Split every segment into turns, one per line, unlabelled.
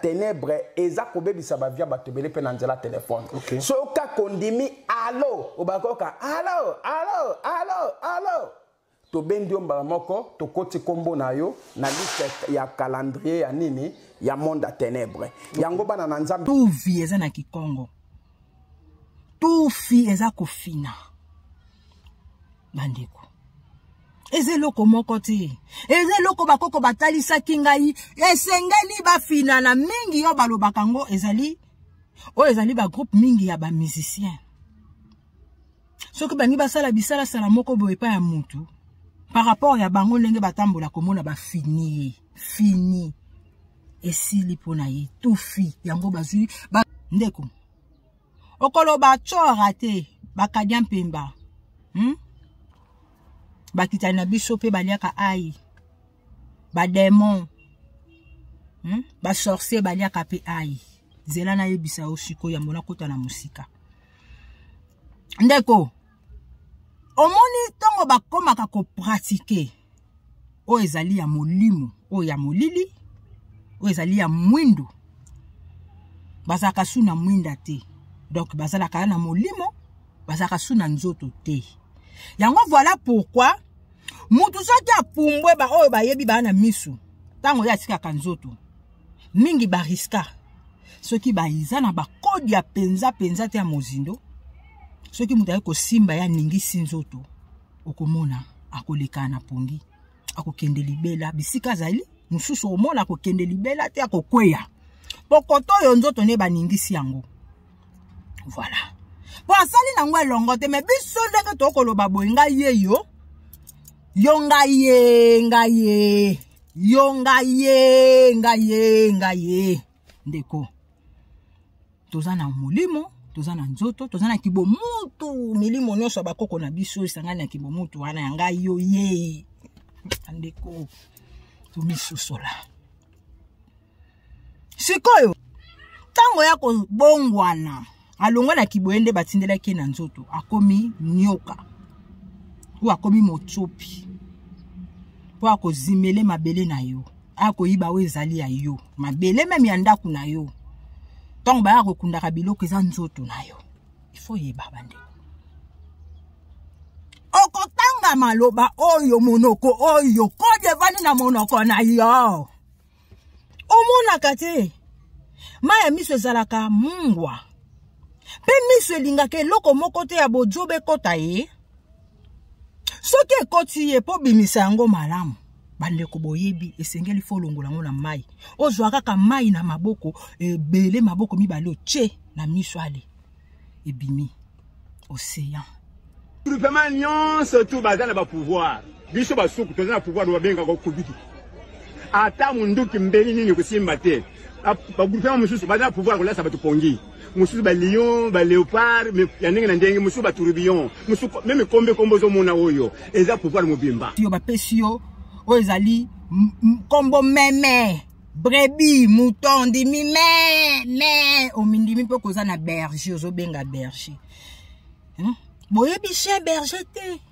tenebre eza kobebisa bavie ya bato ebele mpe na nzela telefone okay. soki kaka ondimi alo obakoka alo alo alo alo tobendi yo mbala moko tokoti nkombo na yo na liste ya calendrier ya nini ya monde ya tenebre yango bana na nzambe tuvi eza na
kikongo tufi eza kofina bandeko eza eloko moko te eza eloko bakoko batalisaki ngai esengeli bafinana mingi oyo balobaka yango ezali oyo ezali bagroupe mingi ya bamusicien soki bangi basala bisalasala moko boye epai ya motu par rapport ya bango ndenge batambola komona bafini ye fini esili mpo na ye tufi yango bazwi ba... ndeko okoloba cora te bakadia mpemba hmm? bakitani na biso mpe baliaka ai bademon hmm? basorcier baliaka mpe ai zela nayebisa yo sikoyo yambo nakota na mosika ndeko omoni ntongo bakomaka kopratike oyo ezali ya molimo oyo ya molili oyo ezali ya mwindu bazalaka su na mwinda te donc bazalaka na molimo bazalaka su na nzoto te yango voilà pourquoi motu soki apumbwe baoyo bayebi baa na misu ntango ye atikaka nzoto mingi bariska soki baza na bakode ya mpenza mpenza te ya mozindo soki moto ayaki kosimba ye aningisi nzoto okomona akoleka na pongi akokende libela bisika azali mosusu okomona akokende libela te akokweya pokoto oyo nzoto nde baningisi yango voilà mpo asali na yango elongo te me biso ndenge tokoloba boye ngai ye yo yo ngai ye ngai ye yo ngai ye ngai ye ngai ye ndeko toza na molimo toza na nzoto toza na kibomutu milimo nyonso ya bakoko na biso esangani na kibomutu wana ya ngai yo ye bandeko tomisosola sikoyo ntango ya kobongwana alongwa na kiboye nde batindelaki ye na nzoto akomi nyoka oyo akomi motsopi mpo akozimele mabele na yo akoyiba oyo ezali ya yo mabele meme ya ndako na yo ntango baya kokundaka biloko eza nzoto na yo ifo yeba bandeko okotanga maloba oyo monoko oyo kodi evandi na monoko na yo omonaka te mai ya miso ezalaka mungwa mpe miso elingaka eloko moko te ya bojoba ekota ye soki ekoti ye mpo bimisa yango malamu bandeko boyebi esengeli fo olongola yango na mai ozwa kaka mai na maboko ebele maboko mibale otie na miso ale ebimi ocean
groupement nyonso tu baza na bapouvoir biso basuku toza na pouvoir babengaka okobiki ata monduki mbeli nini kosimba te bagroupement mosusu baza na pouvoir kolasa bato pongi mosusu ba lion ba leopard ya ndenge na ndenge mosusu ba tourbillon mosusu meme kombe kombo ozomona oyo eza pouvoir mobimba yo bapesi yo
oyo ezali kombo meme brebi mouton ndimi me me omindimi mpe okoza na berger ozobenga berger hmm? boyebi chien berger te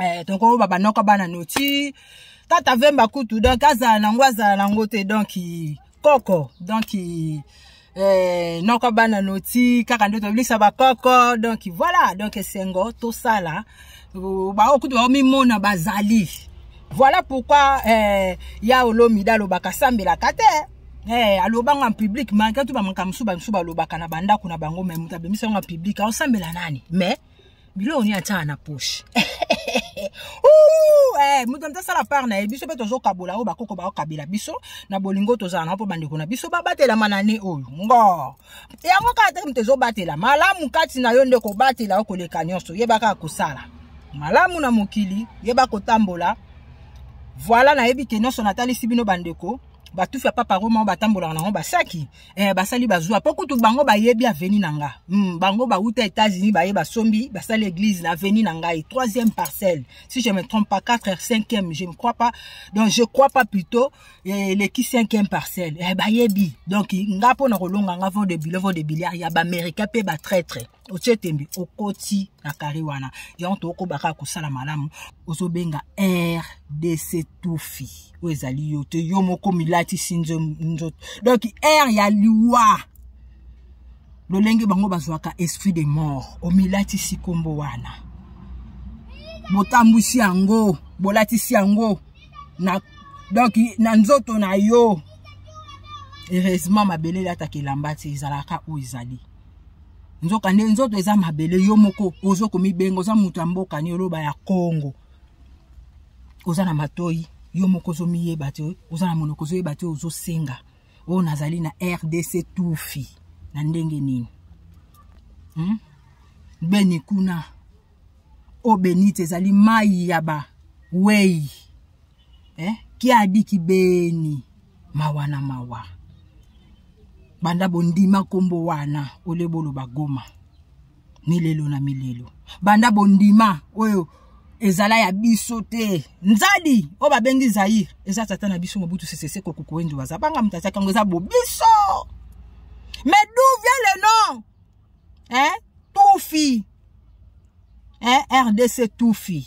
eh, toko baba noko bana noti tata vemba kutu donc azala nango azala nango te donc koko donc eh, noko bana noti kaka nde tobilisa bakoko donc voilà donc esengo tosala baoyo kutu baomimona bazali voilà pourquoi eh, ya olomida alobaka sambelaka te Hey, eh, alobanga en public malgré tout bamakambo mosusu bamisusu balobaka na bandako na bango mai moto abimisa yango en public aosambela nani mais biloko nini atyaka na poche eh, moto nde asala part na ye biso mpe tozokabola oyo bakoko bakokabela biso na bolingo tozala na mpo bandeko na biso babatelama na ne oyo ngo yango kaka te moto ezobatela malamu kati na yo nde kobatela yo koleka nyonso yeba kaka kosala malamu na mokili yeba kotambola voila nayebi ke nyonso natalisi bino bandeko batufi ya papa roma oyo batambolaka nango basaki eh, basali bazwa mpo kutu bango bayebi aveni na nga mm, bango bauta états-unis baye basombi basali église na aveni na ngai troisième parcelle si je me trompe pas 4 heures cinquième je ne crois pas donc je crois pas plutôt eh, eleki eh, cinquième parcelle eh, bayebi donc nga mpo na kolonga nga vent de billet vent de billiard ya baaméricain mpe batraitre otie tembe okoti na kare wana yango tokoba kaka kosala malamu ozobenga rdc tufi oyo ezali yo te yo moko milatisi nzoto donk r ya liwa lolenge bango bazwaka esprit de mort omilatisi nkombo wana botambwisi yango bolatisi yango na donk na nzoto na yo heureusement mabele elataka elamba te ezalaka oyo ezali nzoka nde nzoto eza mabele yo moko ozo komibenga oza moto ya mboka ni oloba ya kongo oza na matoi yo moko ozomiyeba te oza na monoko ozoyeba te ozosenga oyo nazali na rdc tufi na ndenge nini hmm? beni kuna oyo benite ezali mai ya bawei eh? kiadi kibeni mawa na mawa banda bondima nkombo wana ole boloba goma milelo na milelo banda bondima oyo ezala ya biso te nzadi oyo babengi zaire eza tata na biso mobutu seseseko kukuendu baza banga moto atiaki yango eza bobiso mais d'où vient le nom hein? tufi hein? rdc tufi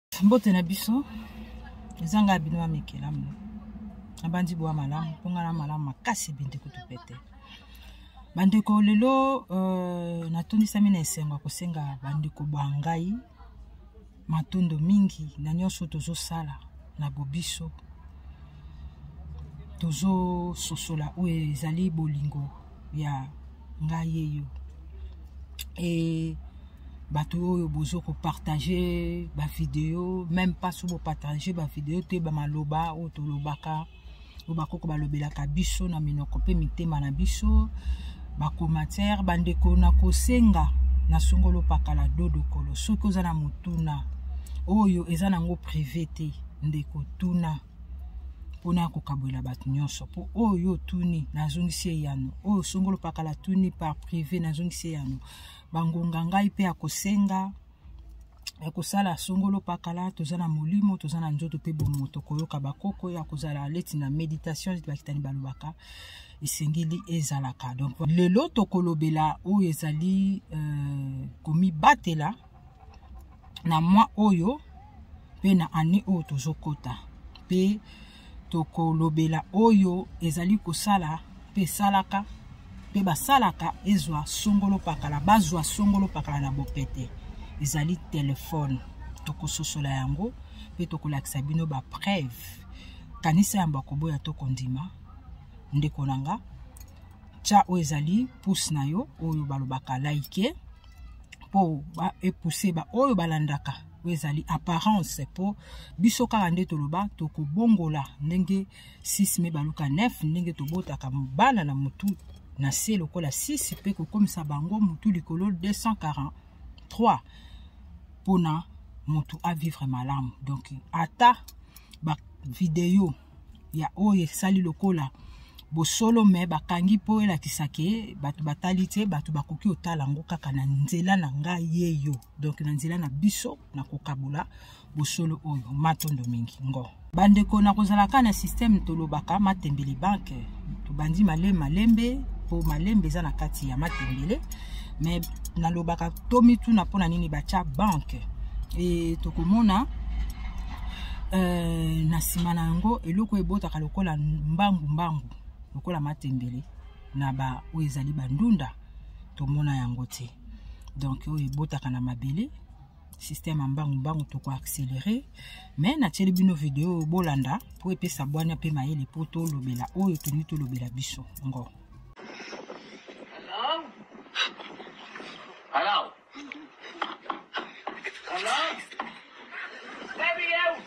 mbote na biso eza ngai bino amikelamu nabandi boya malamu mpo ngai na malamu makasi ebende kutu pete bandeko lelo euh, natondisami na esengo ya kosenga bandeko bwa ngai matondo mingi na nyonso tozosala na bobiso tozososola oyo ezali bolingo ya ngai ye yo e bato oyo bozo kopartage bavideo meme pas so bopartage bavideo te bamaloba oyo tolobaka oyo bakoko balobelaka biso na minoko mpe mitema na biso bacommentaire bandeko na kosenga na songolo pakala dodokolo soki oza na motuna oyo eza nango prive te ndeko tuna mpona ya kokabwela bato nyonso mpo oyo yo otuni nazongisi eyano oyo songolo pakala tuni par prive nazongisi eyano bangonga ngai mpe ya kosenga ya kosala songolo pakala toza na molimo toza na nzoto mpe bomoto koyoka bakoko ya kozala leti na méditation leti bakitani balobaka esengeli ezalaka donc lelo tokolobela oyo ezali euh, komibatela na mwa oyo mpe na année oyo tozokota mpe tokolobela oyo ezali kosala mpe esalaka mpe basalaka ezwa songolo pakala bazwa songolo pakala na bopete ezali telefone tokososola yango mpe tokolakisa bino bapreuve kanisa yambo akoboya to kondima ndeko na nga tya oyo ezali puse na yo oyo balobaka laike like. mpo ba epousse ba oyo balandaka oyo ezali apparence mpo biso kaka nde toloba tokobongola ndenge 6 me baluka 9 ndenge tobotaka bana na motu na se lokola 6 mpe kokomisa bango motu likolo 243 mpona motu avivre malamu donc ata bavideo ya oyo esali lokola bosolo me bakangi mpo elakisa ke bato batali te bato bakoki kotala yango kaka na nzela na ngai ye yo donk na nzela na biso na kokabola bosolo oyo matondo mingi ngo bandeko na kozalaka na systeme tolobaka matembele banke tobandi male malembe mpo malembe eza na kati ya matembele me nalobaka tomituna mpo na nini batya banke e tokomona euh, na nsima na yango eloko ebotaka lokola mbangu mbangu lokola matembele na ba oyo ezali bandunda tomona yango te donc oyo ebotaka na mabele système ya mbangu mbangu toko accéléré mais natieli bino video oyo bolanda mpo epesa bwania mpe mayele mpo tolobela oyo tolingi tolobela biso ngo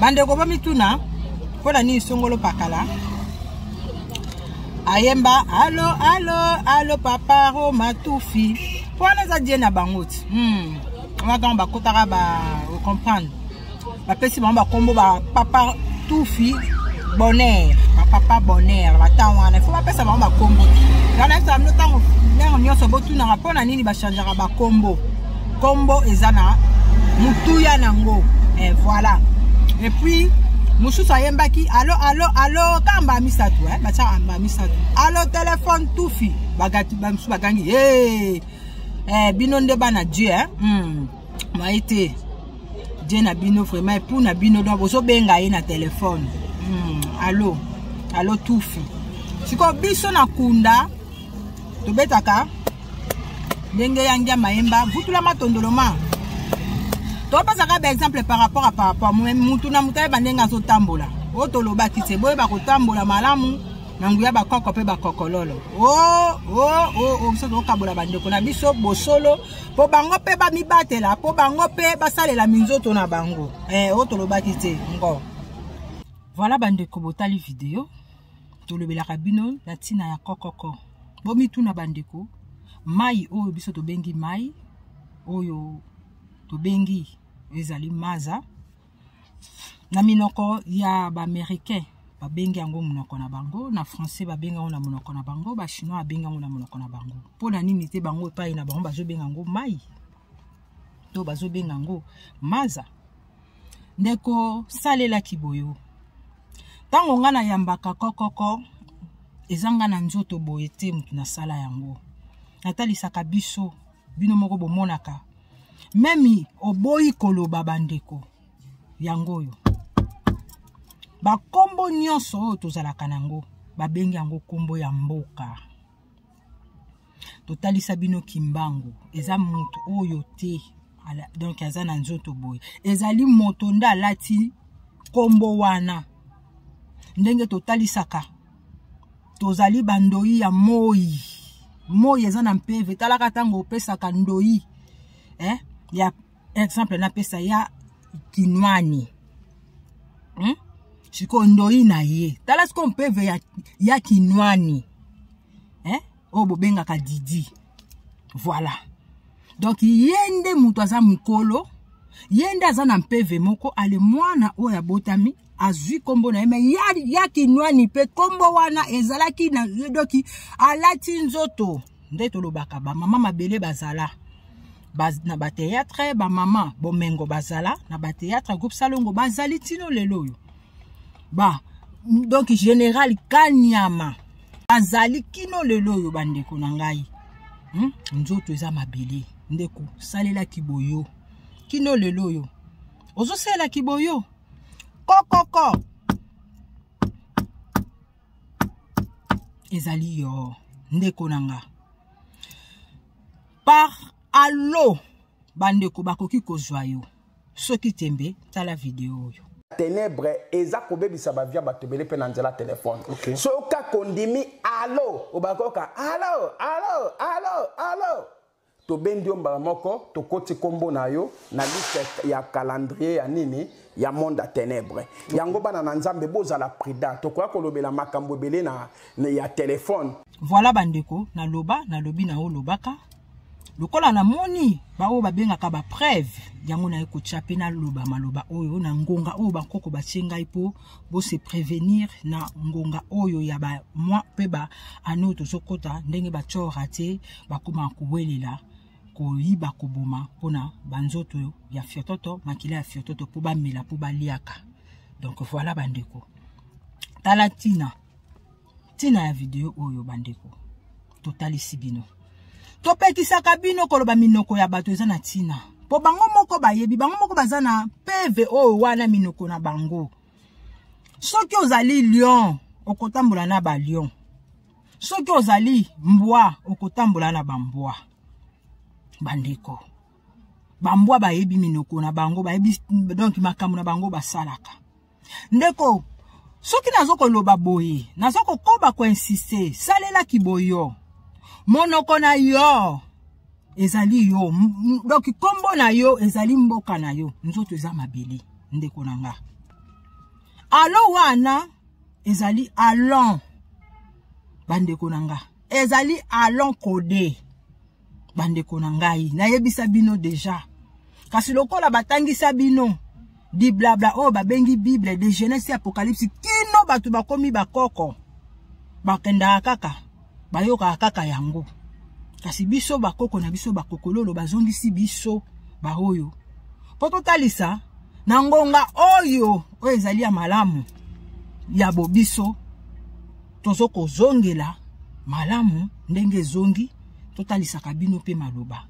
bandeko bomituna mpo na nini songolo pakala ayemba alo alo alo papa roma tufi mpo wana eza die na bango ti hmm. wana ntango bakotaka ba ocomprendre bapesi bango bakombo ba papa tufi bonheur bapapa bonheur batango wana ifo bapesa bango bakombo wana esa bino ntango ntango nyonso botunaka mpo na nini bachangeaka bakombo Kombo eza na mutuya nango. Eh voilà. Et puis mosusu ayembaki alo alo alo kaka mbala misato eh, batyaka mbala misato alo telefone tufi bamosusu bagangi hey, eh, bino nde bana dieu eh? mm. maye te dieu na bino vraiment epou na bino donc bozobenga ye na telefone mm. alo alo tufi sikoyo biso na kunda tobetaka ndenge ya ngia mayemba vutula matondolo ma topesaka baexemple par rapport a par rapport mutu na moto ayeba ndenge azotambola oyo tolobaki se boyeba kotambola malamu na nguya bakoko mpe bakokololo o oh, o oh, o oh, o biso tokokabola bandeko na biso bosolo mpo bango mpe bamibatela mpo bango mpe basalela minzoto na bango eh, oyo tolobaki te ngo voilà bandeko botali video tolobelaka bino na ntina ya kokoko bomituna bandeko mai oyo biso tobengi mai oyo tobengi ezali maza na minoko ya baaméricain babengi yango monoko na bango na français babengi yango na monoko na bango bachinois babengi yango na monoko na bango mpo na nini te bango epai na bango bazobenga yango mai to bazobenga yango maza ndeko salela kiboyo ntango ngai nayambaka kokoko eza ngai na nzoto boye te moto nasala yango natalisaka biso bino moko bomonaka memi oboyi koloba bandeko yango oyo bakombo nyonso oyo tozalaka na yango babengi yango kombo ya mboka totalisa bino kimbangu eza moto oyo te donc aza na nzoto boye ezali moto nde alati nkombo wana ndenge totalisaka tozali bandoi ya moi moi eza na mpeve talaka ntango opesaka ndoi eh, ya exemple napesa ya kinwani hmm? sikoyo ndoi na ye tala sikoyo mpeve ya, ya kinwani eh? oyo bobengaka didi voilà donc ye nde moto aza mokolo ye nde aza na mpeve moko ale mwana oyo abotami azwi nkombo na ye me ya, ya kinwani mpe nkombo wana ezalaki na doki alati nzoto nde tolobaka bamama mabele bazala ba, na bateatre bamama bomengo bazala na bateatre groupe salongo bazali ntino lelo oyo ba donc général kanyama azali kino lelo oyo bandeko na ngai hmm? nzoto eza mabele ndeko salelaki boyo kino lelo oyo ozosalelaki boyo kokoko ezali yo ndeko na nga par allo bandeko bakoki kozwa yo soki tembe tala video oyo ténèbre eza
kobebisa bavie ya bato ebele mpe na nzela telefone okay. soki kaka ondimi alo obaka koyoka alo alo alo alo tobendi yo mbala moko tokoti nkombo na yo na liste ya calendrier ya nini ya monde ya ténèbre yango bana na nzambe bozala prudent tokoya kolobela makambo ebele na, na ya telefone voilà bandeko
naloba nalobi na olobaka lokola namoni baoyo babengaka bapreuve yango naye kotya mpe naloba maloba oyo na ngonga oyo bankoko batye ngai mpo bo se prévenir na ngonga oyo ya ba mwa mpe ba ane oyo tozokɔta ndenge batyora te bakoma kowelela koyiba koboma mpona banzoto ya fiototo makila ya fiototo mpo bamela mpo baliaka donc voilà bandeko tala ntina ntina ya video oyo bandeko totalisi bino topekisaka bino koloba minoko ya bato eza na ntina mpo bango moko bayebi bango moko baza na peve oyo wana minoko na bango soki ozali lion okotambola na balion soki ozali mbwa okotambola na bambwa bandeko bambwa bayebi minoko na bango bayebi donk makambo na bango basalaka ndeko soki nazo koloba boye nazo kokoba koinsiste salela kiboyo monoko na yo ezali yo donc nkombo na yo ezali mboka na yo nzoto eza mabele ndeko na nga alo wana ezali alon bandeko na nga ezali alon kode bandeko na ngai nayebisa bino deja kasi lokola batangisa bino diblabla oyo babengi bible de genese apocalypse kino bato bakomi bakoko bakendaka kaka bayokaka kaka yango kasi biso bakoko na biso bakokololo bazongisi biso baoyo mpo totalisa na ngonga oyo oyo ezali ya malamu ya bobiso tozo kozongela malamu ndenge ezongi totalisaka bino mpe maloba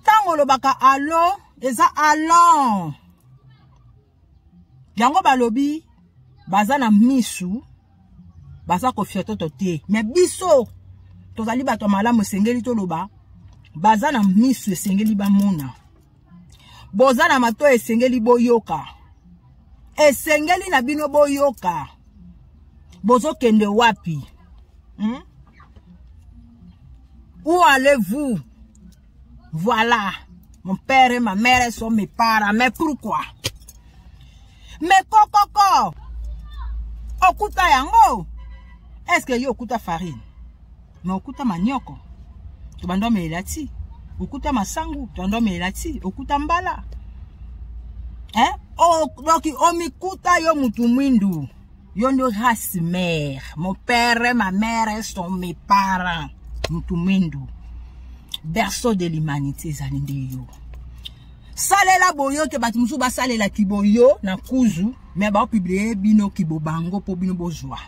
ntango olobaka alo eza alon yango balobi baza na misu baza kofiototo te me biso tozali bato ya malamu esengeli toloba baza na misu esengeli bamona boza na mato esengeli boyoka esengeli na bino boyoka bozokende wapi hmm? où allez-vous voilà mon père et ma mère sont mes parents mais pourquoi mais kokoko okuta yango est-ce que yo okuta farine me okuta manioko tobanda omelela ti okuta masangu tobanda omelela ti okuta mbala eh? oh, donc omikuta yo mutu mwindu yo nde race mère mon père ma mère sont mes parents mutu mwindu berceau de l'humanité ezali nde yo salela boyo te bato mosusu basalela kiboyo na kuzu me baopiblie bino kibo bango mpo bino bozwa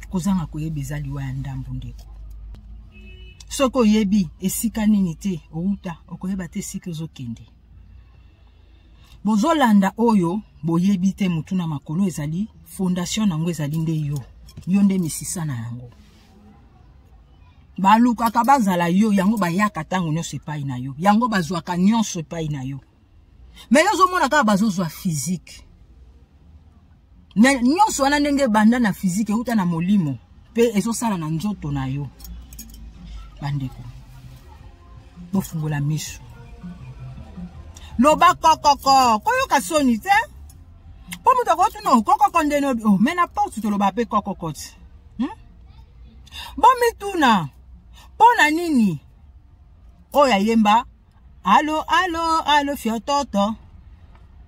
kozanga koyeba eza liwa ya ndambo ndeko soki oyebi esika nini te outa okoyeba te esika ozokende bozolanda oyo boyebi te motu na makolo ezali fondation na yango ezali nde yo yo nde misisa na yango balukaka bazala yo yango bayaka ntango nyonso epai na yo yango bazwaka nyonso epai na yo me yo ozomona kaka bazozwa fizike na nyonso wana ndenge ebanda na fizike euta na molimo mpe ezosala na nzoto na yo bandeko bofungola miso loba kokoko koyoka soni te mpo moto akoti no kokoko nde no oh, me na porte toloba mpe kokokoti hmm? bomituna mpo na nini oyo ayemba alo alo alo fiototo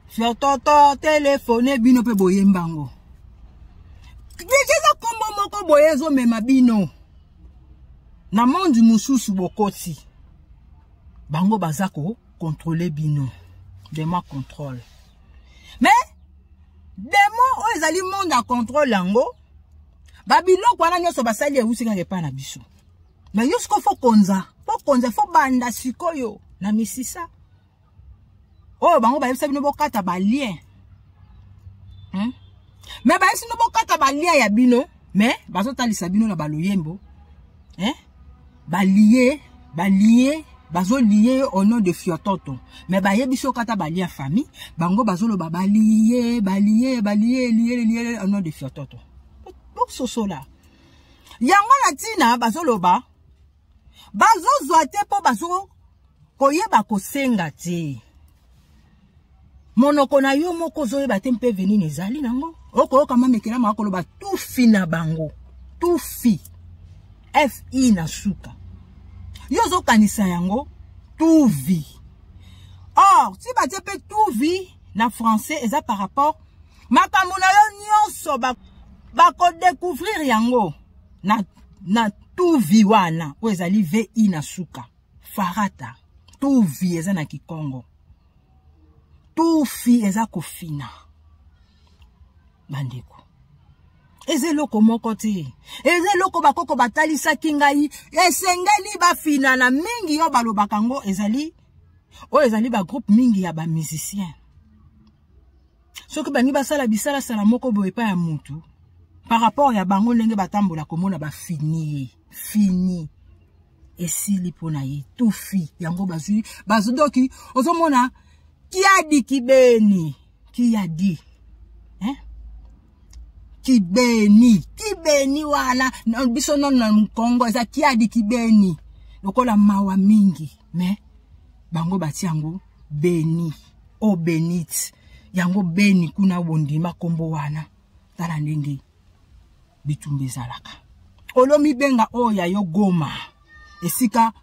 fiototo telefone bino mpe boyemba yango deja eza nkombo moko boye ezomema bino na mondi mosusu bokoti bango baza ko controle bino dema controle mais demo oyo ezali monde ya controle yango babiloko wana nyonso basali eusi kaka epai na biso me yo sikoyo fo konza fo konza fo banda sikoyo na misisa oyo bango bayebisa bino bokata balien hmm? me bayebisi bino bokata balien ya bino me bazotalisa bino na baloyembo eh? balie balie bazolie ye au nom de fiototo me bayebi so kata balia famille bango bazoloba balie balie balie lie lie au nom de fiototo bososola yango na ntina bazoloba bazozwa te mpo bazo koyeba kosenga te monoko na yo moko ozoyeba te mpe venini ezali nango okoyoka mamekela maka koloba tufi na bango tufi fi na suka yo ozokanisa yango tuvi or ti batie mpe tuvi na français eza par rapport makambo na yo nyonso bakodecouvrir ba yango na, na tuvi wana oyo ezali vi na suka farata tuvi eza na kikongo tufi eza kofina bandeko eza eloko moko te eza eloko bakoko batalisaki ngai esengeli bafinana mingi yo balobaka yango ezali oyo ezali bagroupe mingi ya bamusicien soki bangi basala bisalasala moko boye epai ya motu par rapport ya bango ndenge batambola komona bafini ye fini esili mpo na ye tufi yango bazwi bazodoki ozomona kiadi kibeni kiadi eh? kibeni kibeni wana biso nono na mokongo eza kiadi kibeni lokola mawa mingi me bango bati yango beni o oh, benite yango beni kuna bondima nkombo wana tala ndenge bitumba ezalaka olomibenga oyo ya yo goma esika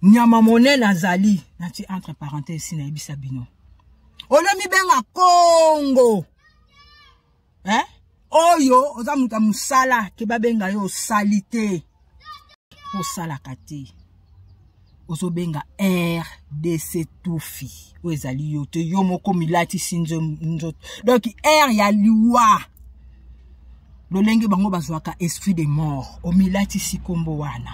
nyama monene azali nati entre parenthèse nayebisa bino olomibenga kongo eh? oyo oza moto ya mosala ke babenga yo osali te osalaka te ozobenga rdc tufi oyo ezali yo te yo moko milatisi nzoto donk r ya liwa lolenge bango bazwaka esprit de mort omilatisi nkombo wana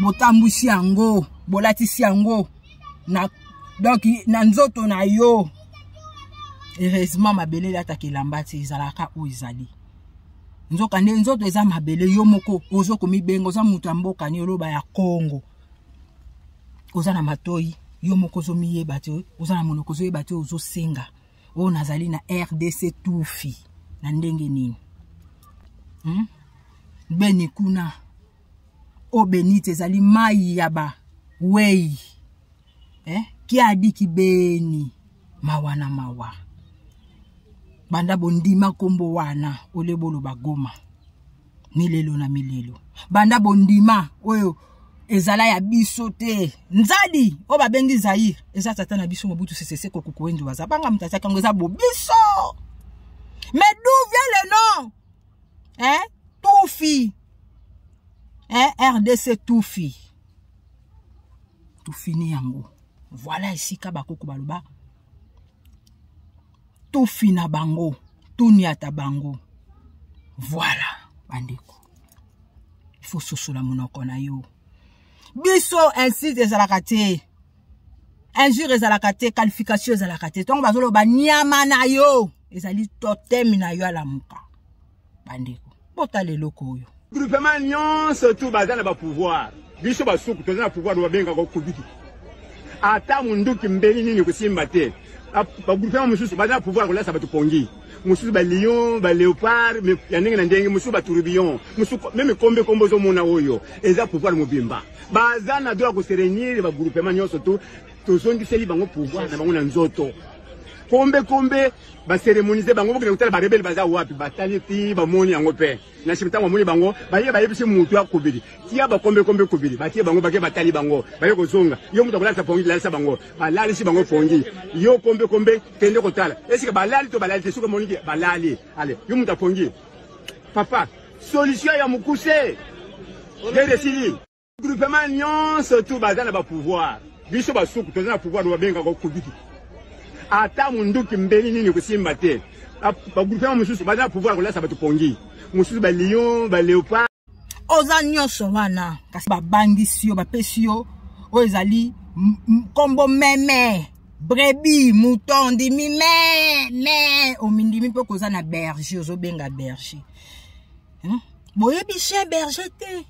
botambwisi yango bolatisi yango na donk na nzoto na yo heureusement mabele elataka elamba te ezalaka oyo ezali nzokande nzoto eza mabele yo moko ozo komibenga oza moto ya mboka ni oloba ya kongo oza na matoi yo moko ozomiyeba te oza na monoko ozoyeba te ozosenga oyo nazali na rdc tufi na ndenge nini hmm? beni kuna oyo benite ezali mai ya bawei eh? kiadi kibeni mawa na mawa banda bondima nkombo wana ole boloba goma milelo na milelo banda bondima oyo ezala ya biso te nzadi oyo babengi zaire eza tata na biso mobutu seseseko kukuendu baza banga moto atiaki yango eza bobiso mais d'où vient le nom hein? tufi hein? rdc tufi tofini yango voilà esika bakoko baloba tofina bango toniata bango voilà bandeko il faut sosola monoko na yo biso inside ezalaka te injure ezalaka te qualification ezalaka te ntongo bazoloba nyama na yo ezali toteme na yo alamuka bandeko botala eloko oyo groupement nyonso
tu baza na bapouvoir biso basuku toza na pouvoir babengaka okobiki ata munduki mbeli nini kosimba te bagroupement mosusu baza na pouvoir kolasa bato pongi mosusu balion baleopard ya ndenge na ndenge mosusu batourubion mosusu meme kombe kombe ozomona oyo eza pouvoir mobimba baza na droit ya koserenir bagroupement nyonso tu tozongiseli bango pouvoir na bango na nzoto kombe kombe baceremonise bango bokende kotala barebele baza wapi batali ti bamoni yango mpe na nsima ntango bamoni bango baye bayebisi motu ya kobili tia bakombe kombe kobili batie bango bake batali bango baye kozonga yo moto akolalisa pongi lalisa bango balalisi bango pongi yo kombe kombe kende kotala esika balali to balali te soki omoniki balali ale yo moto apongi papa solution ya mokuse nde esili Groupement nyonso tu baza na ba pouvoir. Biso basuku toza na pouvoir babenga ko kubiki. Ata munduki mbeli nini kusimba te. Ba groupement mususu baza na pouvoir kolasa bato pongi. Mususu ba lion, ba leopard. Oza nyonso
wana kasi babangisi yo bapesi yo oyo ezali nkombo meme brebi mouton ndimi me me omindimi mpe okoza na berger ozobenga berger hmm? boyebi chien berger te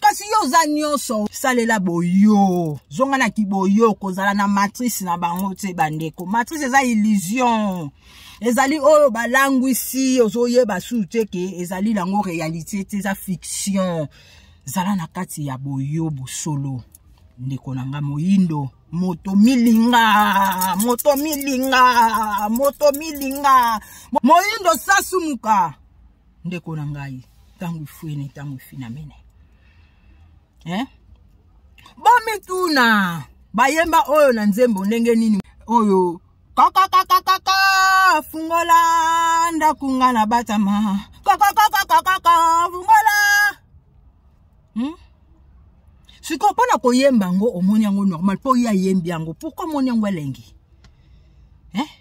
kasi yo oza nyonso salela boyo zonga na kiboyo kozala na matrice na bango te bandeko matrice eza illusion ezali oyo balangwisi ozoyeba susu te ke ezali yango réalité te eza fiction zala na kati ya boyo bosolo ndeko na nga moyindo moto milinga moto milinga moto milinga moyindo sasumuka ndeko na ngai ntango ifueni ntango ifinamene eh? bomituna bayemba oyo na nzembo ndenge nini oyo kakakakakaka fungola ndako nga na batama kakakakakaka fungola hmm? sikoyo mpo na koyemba yango omoni yango normal mpo ye ayembi yango pourkui omoni yango elengi eh?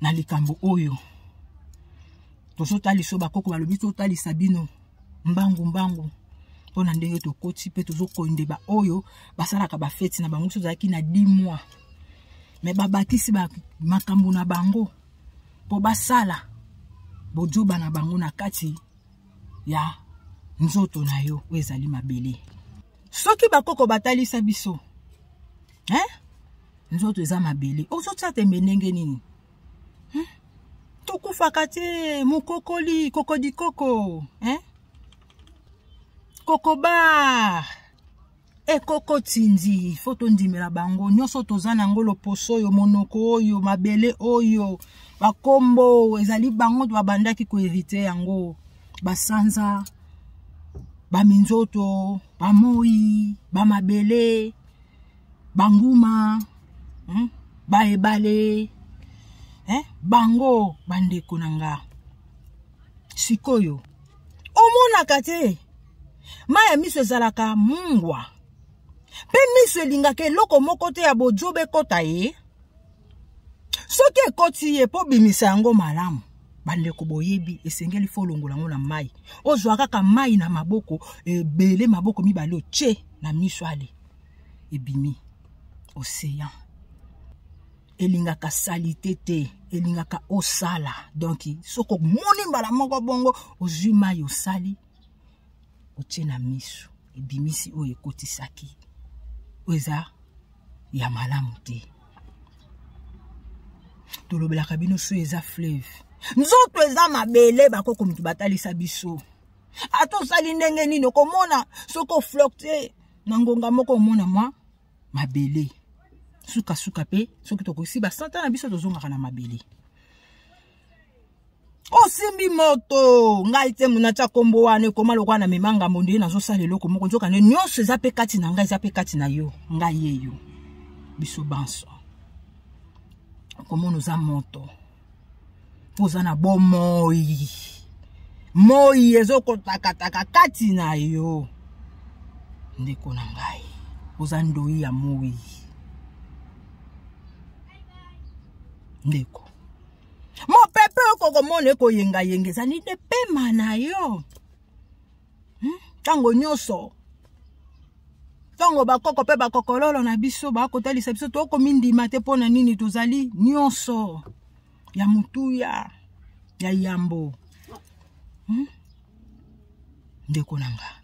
na likambo oyo tozotalisa oyo bakoko balobi totalisa bino mbangu mbangu mpo na ndenge tokoti mpe tozokonde baoyo basalaka bafeti na bango mosusu ozalaki na 10 mois me babakisi ba, makambo na bango mpo basala bojoba na bango na kati ya nzoto na yo oyo ezali mabele soki bakoko batalisa biso hein? nzoto eza mabele ozotya tembe ndenge nini hmm? tokufaka te mokokoli kokodikoko hein? kokobar ekoko tindi fo tondimela bango nyonso toza na yango loposo oyo monoko oyo mabele oyo bakombo ezali bango babandaki koherite yango basanza baminzoto bamoi bamabele banguma hmm? baebale eh? bango bandeko na nga sikoyo omonaka te mai ya miso ezalaka mungwa mpe miso elingaka eloko moko te ya bojoba ekɔta ye soki ekoti ye mpo bimisa yango malamu bandeko boyebi esengeli fo olongola yango na mai ozwa kaka mai na maboko ebele maboko mibale otye na miso ale ebimi ocean elingaka salite te elingaka osala donk soki omoni mbala moko bongo ozwi mai osali otie na miso ebimisi oyo ekotisaki oyo eza ya malamu te tolobelaka bino so eza fleuve nzoto eza mabele bakoko moto batalisa biso ata osali ndenge nini okomona soki oflokte na ngonga moko omona mwa mabele sukasuka mpe soki tokokisi basanta na biso tozongaka na mabele osimbi moto ngai te natya nkombo wana ekoma lokola na mema ngambo nde nazosala eloko moko nzokande nyonso eza mpe kati na ngai eza mpe kati na yo ngai ye yo biso banso okomona oza moto mpo oza na bomoi moi ezokotakataka kati na yo ndeko na ngai oza ndoi ya moi ndeko mopepe oyo kokomona ekoyengayenga ezali nde pema na yo hmm? ntango hmm? nyonso ntango bakoko mpe bakokololo na biso bakotalisa biso tokomindima te mpo na nini tozali nyonso ya motuya ya yambo hmm? ndeko na ngai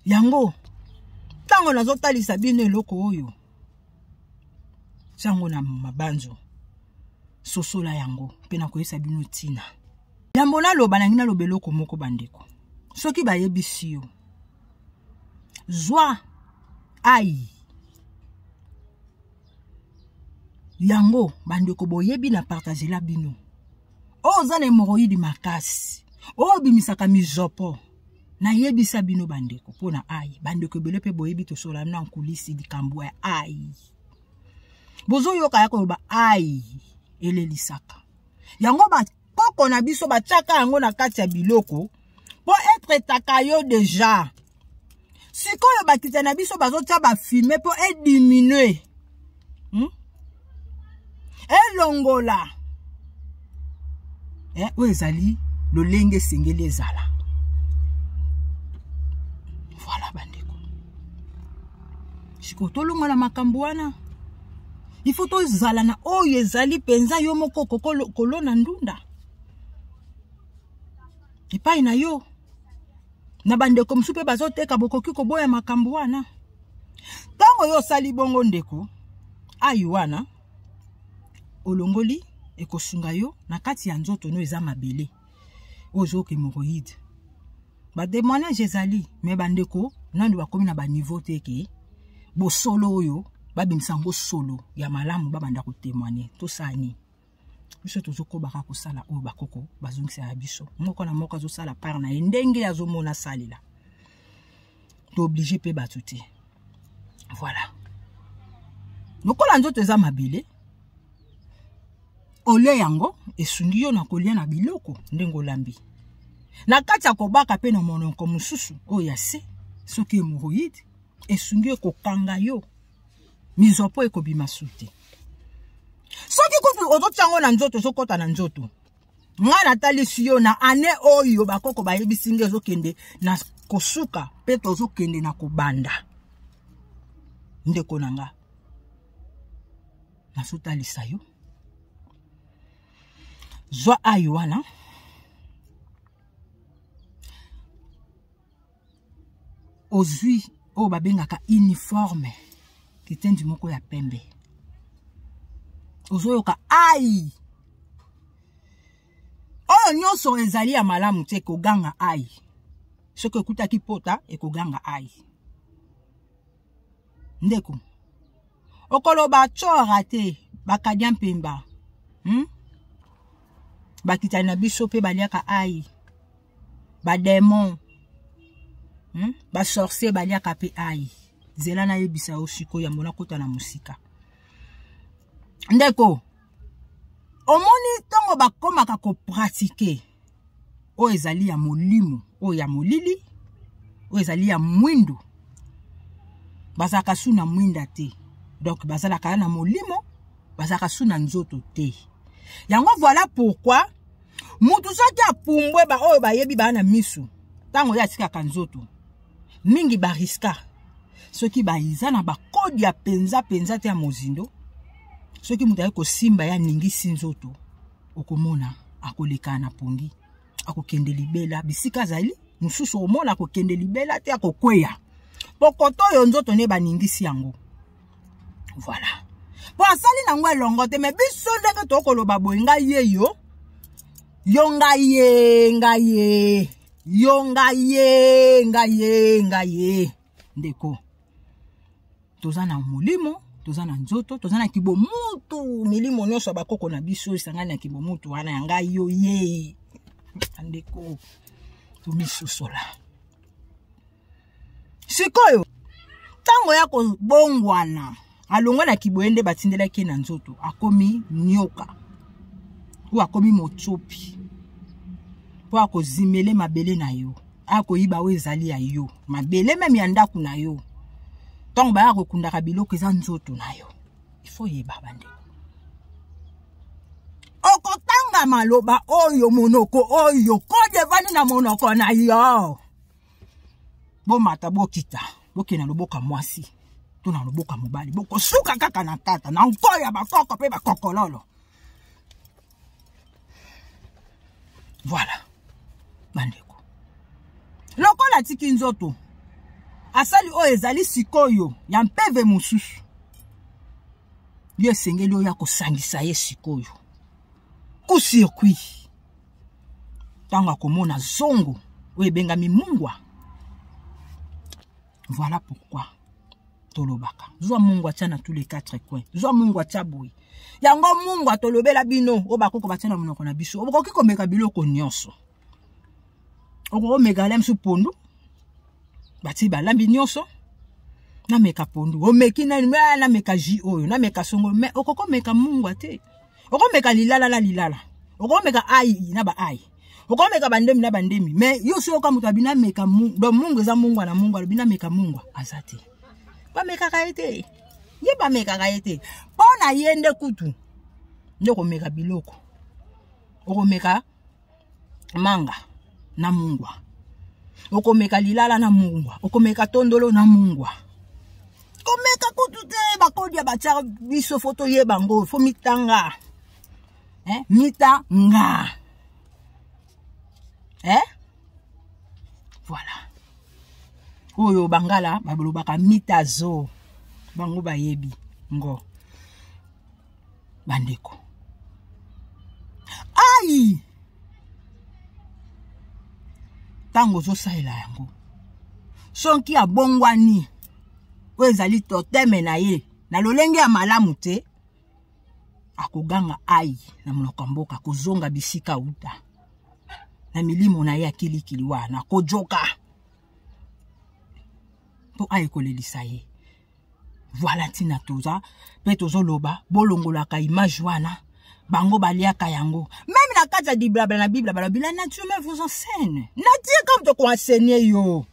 yango ntango nazotalisa bino eloko oyo ntango na mabanzo sosola yango mpe nakoyebisa bino ntina yambo naloba nangi naloba eloko moko bandeko soki bayebisi yo zwa ai yango bandeko boyebi na partagela bino oyo oza na hemoroyidi makasi oyo obimisaka mizopo nayebisa bino bandeko mpo na ai bandeko ebele mpe boyebi tosola na nkulisi likambo ya ai bozoyoka ya koloba ai elelisaka yango bakoko na biso batiaka yango na kati ya biloko mpo etraitaka yo deja sikoyo bakita na biso bazotya bafilme mpo ediminue hmm? elongola eh, oyo ezali lolenge esengeli ezala voilà bandeko sikoyo tolongola makambo wana il faut tozala na oyo ezali mpenza yo moko kolona ndunda epai na yo na bandeko mosusu mpe bazoteka bokoki koboya makambo wana ntango yo osali bongo ndeko ayi wana olongoli ekosunga yo na kati ya nzoto no eza mabele oyo ezooka hémoroïde bademoignage ezali me bandeko nano bakomi na baniveau te ke bosolo oyo babimisa yango solo ya malamu babanda kotemoigne tosani biso tozokobaka kosala oyo bakoko bazongisa ya biso moko na moko azosala part na ye ndenge azomona asalela tooblige mpe bato te voilà lokola nzoto eza mabele olie yango esungi yo na kolia na biloko ndenge olambi na kati ya kobaka mpe na monoko mosusu oyo ya se soki hemoroïde esungi yo kokanga yo mizwa mpo ekobima su te soki kutu ozotya yango na nzoto ozokɔta na nzoto ngai natalisi yo na ane oyo bakoko bayebisi nge ezokende na kosuka mpe tozokende na kobanda ndeko na nga nazotalisa yo zwa ayi wana ozwi oyo babengaka uniforme kitendi moko ya pembe ozoyoka ai oyo nyonso ezali ya malamu te ekoganga ai soki ekutaki pota ekoganga ai ndeko okoloba cora te bakadia mpemba hmm? bakitani na biso mpe baliaka ai bademon hmm? basorcier baliaka mpe ai zela nayebisa yo sikoyo yango nakota na mosika ndeko omoni ntango bakomaka kopratike oyo ezali ya molimo oyo ya molili oyo ezali ya mwindu bazalaka su na mwinda te donc bazalaka na molimo bazalaka su na nzoto te yango voilà pourquoi motu soki apumbwe baoyo bayebi baa na misu ntango ye atikaka nzoto mingi bariska soki baza na bakode ya mpenza mpenza te ya mozindo soki moto ayaki kosimba ye aningisi nzoto okomona akoleka na pongi akokende libela bisika azali mosusu okomona akokende libela te akokweya pokoto oyo nzoto nde baningisi yango voilà mpo asali na yango elongo te me biso ndenge tokoloba boye ngai ye yo yo ngai ye ngai ye yo ngai ye ngai ye ngai ye ndeko toza na molimo toza na nzoto toza na kibomutu milimo nyonso ya bakoko na biso esangani na kibomutu wana ya ngai yo ye bandeko tomisosola sikoyo ntango ya kobongwana alongwa na kiboye nde batindelaki ye na nzoto akomi nyoka oyo akomi motsopi mpo akozimele mabele na yo akoyiba oyo ezali ya yo mabele meme ya ndako na yo ntango baya kokundaka biloko eza nzoto na yo ifo yeba bande okotanga maloba oyo monoko oyo kode evandi na monoko na yo bomata bokita bokende na loboka mwasi to na loboka mobali bokosuka kaka na tata na nko ya bakoko mpe bakokololo voilà bandeko lokola atiki nzoto asali oyo ezali sikoyo ya mpeve mosusu yo esengeli oyo ya kosangisa ye sikoyo ku circuit ntango akomona zongo oyo ebengami mungwa voilà pourquoi tolobaka zwa mungu atya na tous les quatre coin zwa mungu atya boye yango mungu atolobela bino oyo bakoko batya na monoko na biso okoki komeka biloko nyonso okomeka lemsu pondu batii balambi nyonso nameka pondu omeki nani nameka ji oyo nameka songo me okokomeka mungwa te okomeka lilala na lilala okomeka ai na ba ai okomeka bandemi na bandemi me yo soki oka moto abina meka don mungu eza mungwa na mungwa alobina meka mungwa aza te bamekaka ye te ye bamekaka ye te mpo na ye nde kutu nde okomeka biloko okomeka manga na mungwa okomeka lilala na mungwa okomeka tondolo na mungwa komeka kutu te bakodi ya batyaka biso fo toyeba yango fo mitanga eh? mitanga eh? voilà oyo bangala balobaka mitazo bango bayebi ngo bandeko ai ntango ozosalela yango soki abongwani oyo ezali toteme na ye na lolenge ya malamu te akoganga ai na monoko ya mboka kozonga bisika uta na milimo na ye ya kilikili wana kojoka mpo aye kolelisa ye voilà ntina toza mpe tozoloba bolongolaka image wana bango baliaka yango meme na kati ya diblabla na bibla balobi la nature me vous enseigne nature comme tokoenseigne yo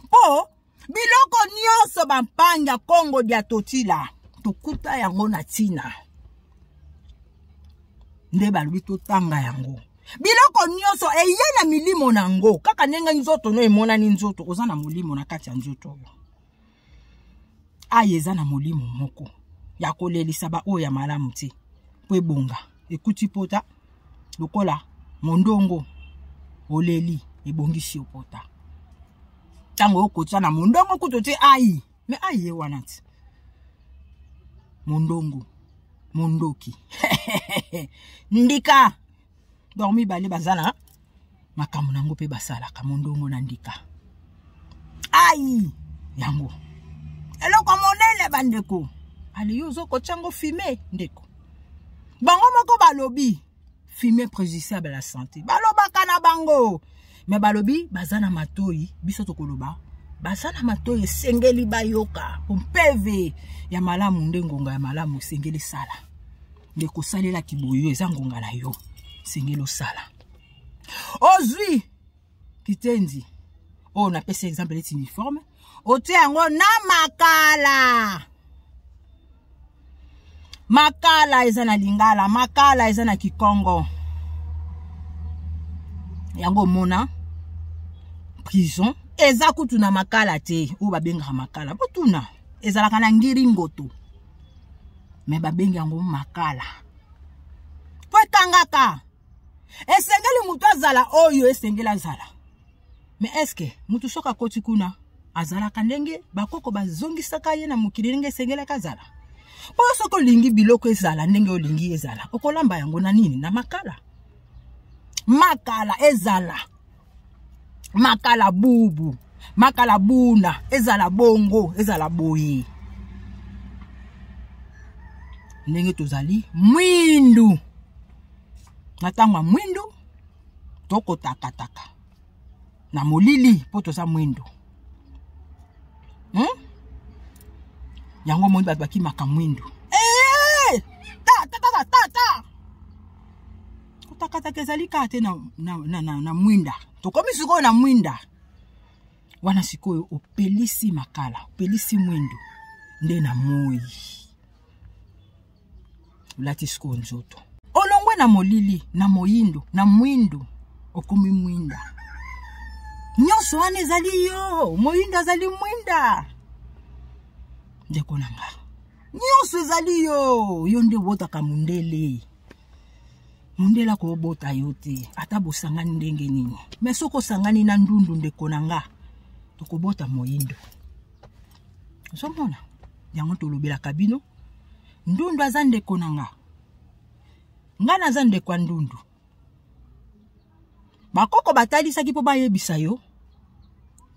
mpo biloko nyonso bampanga kongo dia totila tokuta yango na ntina nde balobi totanga yango biloko nyonso eye na milimo na yango kaka ndenge nzoto no emonani nzoto oza na molimo na kati ya nzoto oyo aya eza na molimo moko ya kolelisa baoyo ya malamu te mpo ebonga ekuti pota lokola mondongo oleli ebongisi yo pota ntango okotisa na mondongo kutu te ai me ai ye wana ti mondongo mondoki ndika donc mibale baza na makambo na yango mpe basalaka mondongo na ndika ai yango eloko monene bandeko aleyo ozokotya yango fime ndeko bango moko balobi fime préjudiciable la santé balobaka na bango me balobi baza na matoi biso tokoloba baza na matoi esengeli bayoka mpo mpeve ya malamu nde ngonga ya malamu esengeli sala ndeko salela kiboyo eza ngonga na yo sengeli osala ozwi kitendi oyo napesi exemple neti uniforme otie yango na makala makala eza na lingala makala eza na kikongo yango omona prison eza kutu na makala te oyo babengaka makala botuna ezalaka na ngiringoto me babengi yango makala po etangaka esengeli moto azala oyo esengeli azala me eske moto soki akoti kuna azalaka ndenge bakoko bazongisaka ye na mokili ndenge esengelaki azala mpo soki olingi biloko ezala ndenge olingi ezala okolamba yango na nini na makala makala ezala makala bubu makala buna ezala bongo ezala boye ndenge tozali mwindu na ntango ya mwindu tokotakataka na molili mpo toza mwindu hmm? yango omoni bato bakimaka mwindu kotakataka ezali kaka te na, na, na, na, na mwinda tokomi sikoyo na mwinda wana sikoyo opelisi makala opelisi mwindo nde na moi olati sikoyo nzoto olongwe na molili na moyindo na mwindo okomi mwinda nyonso wana ezali yo moyindo azali mwinda ndeko na nga nyonso ezali yo yo nde obotaka mondele mundele akobota yo te ata bosangani ndenge nini me soki osangani na ndundu ndeko na nga tokobota moyindo ozomona yango tolobelaka bino ndundu aza ndeko na nga nga naza ndeko ya ndundu bakoko batalisaki mpo bayebisa yo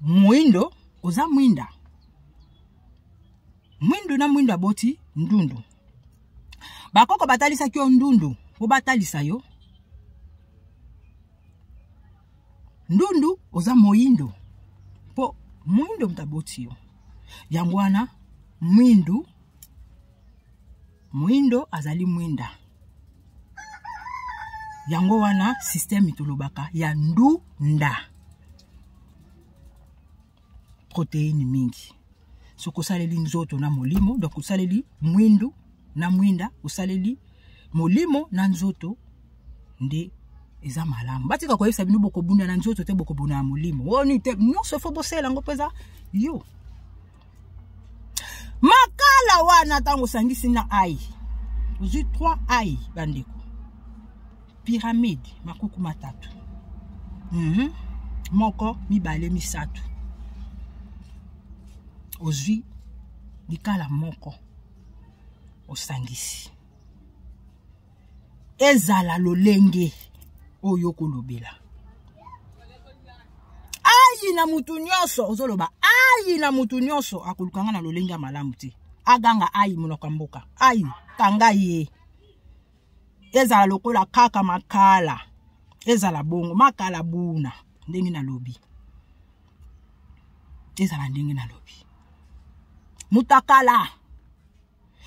moyindo oza mwinda mwindu na mwindu aboti ndundu bakoko batalisaki yo ndundu mpo batalisa yo ndundu oza moyindo mpo moyindo moto aboti yo yango wana mwindu moyindo azali mwinda yango wana systeme tolobaka ya ndunda proteine mingi soki osaleli nzoto na molimo donc osaleli mwindu na mwinda osaleli molimo na nzoto nde eza malamu batika koyebisa bino bokobunda na nzoto te bokobunda na molimo oni te nyonso fo bosala yango mpenza yo makala wana ntango osangisi na ai ozwi 3 ai bandeko pyramide makuku matatu mm -hmm. moko mibale misato ozwi likala moko osangisi ezala lolenge oyo okolobela ayi na motu nyonso ozoloba ayi na motu nyonso akoluka nga na lolenge ya malamu te aganga ayi monoko ya mboka ayi kanga ye ezala lokola kaka makala ezala bongo makala buna ndenge nalobi ezala ndenge nalobi mutakala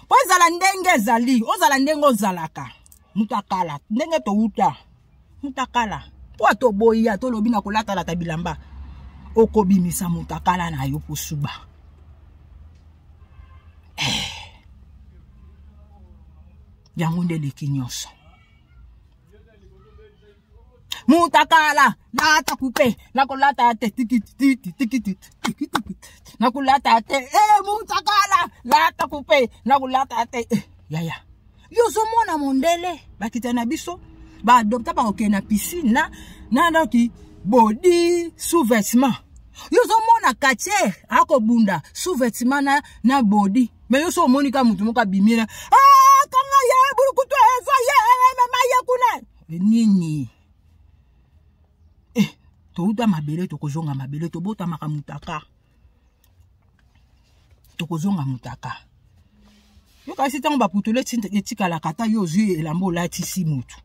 mpo ezala ndenge ezali ozala ndenge ozalaka mutakala ndenge towuta mutakala mpo atoboyi ya tolobi na kolatalata bilamba okobimisa mutakala na yo posuba eh. yango nde eleki nyonso mutakala lata kupe nakolata te nakolata te eh, mutakala lata kupe nakolata te eh, yaya yo ozomona mondele bakita na biso baadopta bakokende na piscine na na ndoki bodi sous vêtement yo ozomona katier akobunda sous vêtement na, na bodi me yo so omoni ka motu moko abimi na ah, kanga ye bulukutu eva ye mama ye kuna eh, nini eh, touta mabele tokozonga mabele tobotamaka mutaka tokozonga mutaka yo kasi ntango baputulu etikalaka ata yo ozwi elamba olatisi motu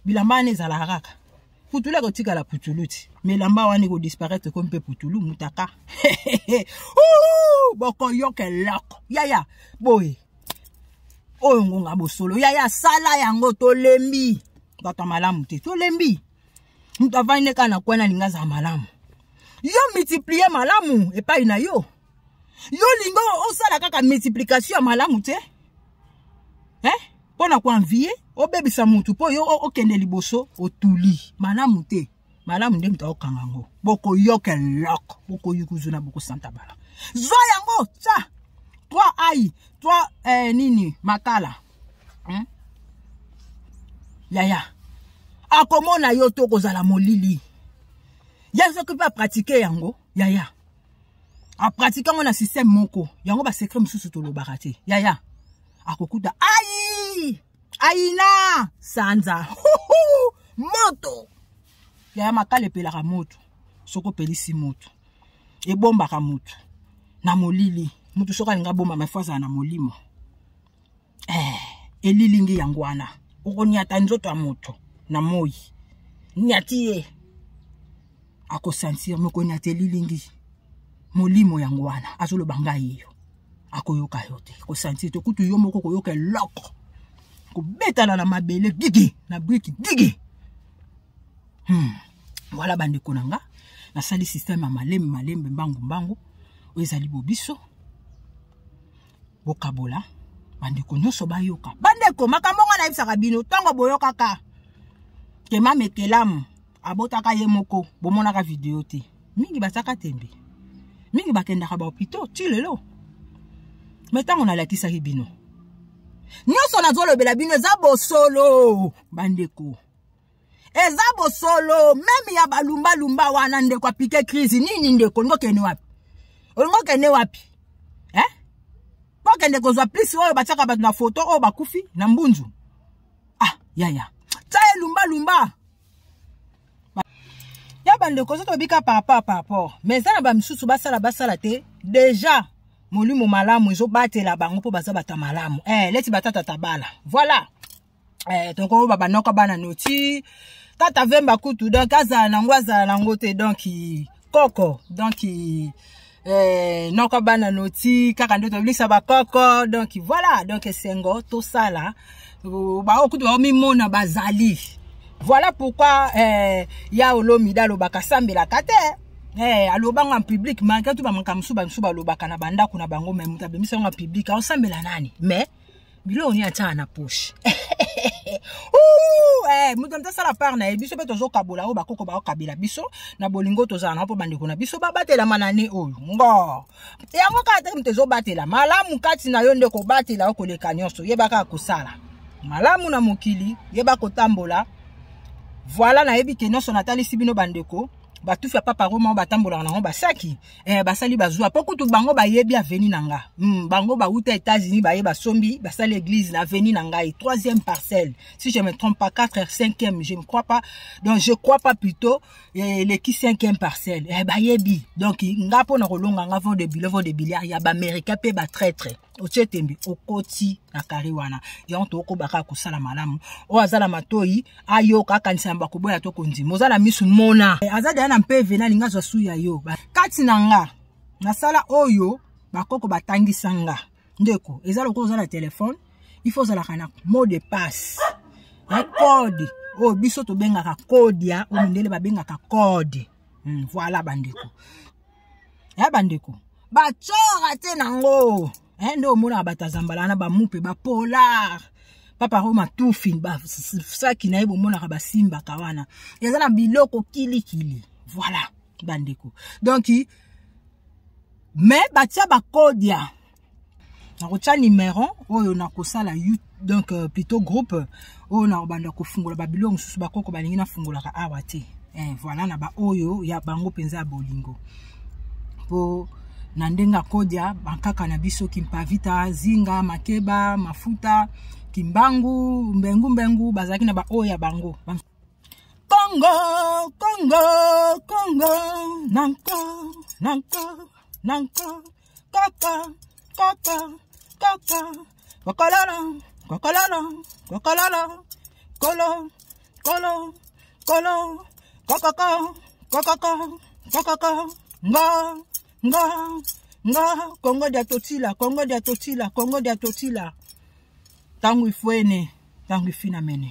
bilamba wana ezalaka kaka putulu akotikala putulu ti ma elamba wana ekodisparaitre ekomi mpe putulu mutaka bokoyoka eloko yaya boye oyo ngonga bosolo yaya sala yango tolembi bato ya malamu te tolembi moto avandi nde kaka na kwana alingi azala malamu yo multiplier malamu epai na yo yo lingo osala kaka multiplication ya malamu te eh? mpo na koanvie obebisa motu mpo yo okende liboso otuli malamu te malamu nde moto akokanga yango bokoyoka eloko bokoyikuzu na bokosanta bala zwa yango tya twa ai twa eh, nini makala hmm? yaya akomona yo to kozala molili ya soki mpe apratike yango yaya apratike yango na systeme moko yango basekre mosusu tolobaka te yaya akokuta ai aina sanza Huhu! moto yaya makala epelaka moto soki opelisi moto ebombaka moto na molili moto soki alingi abomba mafo azala na molimo eh, elilingi yango wana okonyata nzoto ya moto na moi nyati ye akosentir mokonyata elilingi molimo yango wana azoloba ngai yo akoyoka yo te kosentir te kutu yo moko koyoka eloko kobetana na mabele gigi na briki gigi hmm. voilà bandeko na nga nasali systeme ya malembe malembe mbangu mbangu oyo ezali bobiso bokabola bandeko nyonso bayoka bandeko makambo ngai nayebisaka bino ntango boyokaka te mamekelamu abotaka ye moko bomonaka video te mingi bazaka tembe mingi bakendaka bahopitau ti lelo me ntango nalakisaki bino nyonso nazolobela bino eza bosolo bandeko eza bosolo meme ya balumbalumba wana ndeko apike crise nini ndeko olingi okende wapi olingi okende wapi eh? okende kozwa plisi oyo batiaka bato na foto oyo bakufi na mbunzu ah yaya tya ye lumbalumba ya bandeko soki tobika par rapport par rapport mais eza na bamisusu basala basala te deja molimo malamu ezobatela bango mpo baza bato ya malamu eh, leti batata tabala voilà eh, toko baba noko bana noti tata vemba kutu donc azala nango azala nango te donc koko donc eh, noko bana noti kaka nde tobilisa bakoko donc voilà donc esengo tosala baoyo kutu baomimona bazali voilà pourquoi eh, ya olomida alobaka sambelaka te Hey, eh, aloba ngo en public malgré tout bamakambo mosusu bamisusu balobaka na bandako na bango me moto abimisa ngo en public aosambela nani mais biloko nini atyaka na poche eh, moto moto asala part na ye biso mpe tozokabola oyo bakoko bakokabela biso na bolingo tozala na mpo bandeko na biso babatelama na ne oyo ngo yango kaka te moto ezobatela malamu kati na yo nde kobatela yo koleka nyonso yeba kaka kosala malamu na mokili yeba kotambola voila nayebi ke nyonso natalisi bino bandeko batufi ya papa roma oyo batambolaka nango basaki eh, basali bazwa mpo kutu bango bayebi aveni na nga mm, bango bauta états-unis baye basombi basali église na aveni na ngai troisième parcelle si je me trompe pas 4 heures cinquième je ne crois pas donc je crois pas plutôt eh, eleki eh, cinquième parcelle eh, bayebi donc nga mpo na kolonga nga vo de bilo vo de biliard ya baaméricain mpe batraitre otie tembe okoti na kare wana yango tokoba kaka kosala malamu oyo aza na matoi ayoka akanisa yamba koboya to kondima oza na misu mona eh, aza deya na mpeve nalingi azwa su ya yo kati na nga nasala oyo bakoko batangisa nga ndeko eza lokola oza na telefone il faut ozalaka na mot de passe na code oyo biso tobengaka code ya oyo mindele babengaka code hmm, voilà bandeko ya bandeko batsora te nango eh, nde omonaka bato ya zambala wana bamupe bapolar papa roma tufi basaki na ye bomonaka basimbaka wana eza na biloko kilikili voilà bandeko donk me batia bakodia nakotya numéro oyo nakosala donc euh, plutôt groupe oyo nakobanda kofungola babilo mosusu bakoko balingi nafungolaka awa te eh, voilà na baoyo ya bango mpenza ya bolingo mpo na ndenge akodia bankaka na biso kimpavita zinga makeba mafuta kimbangu mbengu mbengu bazalaki na baoyo ya bango kongo kongo kongo nanko nanko nanko kaka kaka kaka kokololo kokololo kokololo kolo kolo kolo kokoko kokoko kokoko ngo ngo ngo kongo dia totila kongo dia totila kongo dia totila ntango ifuene ntango ifinamene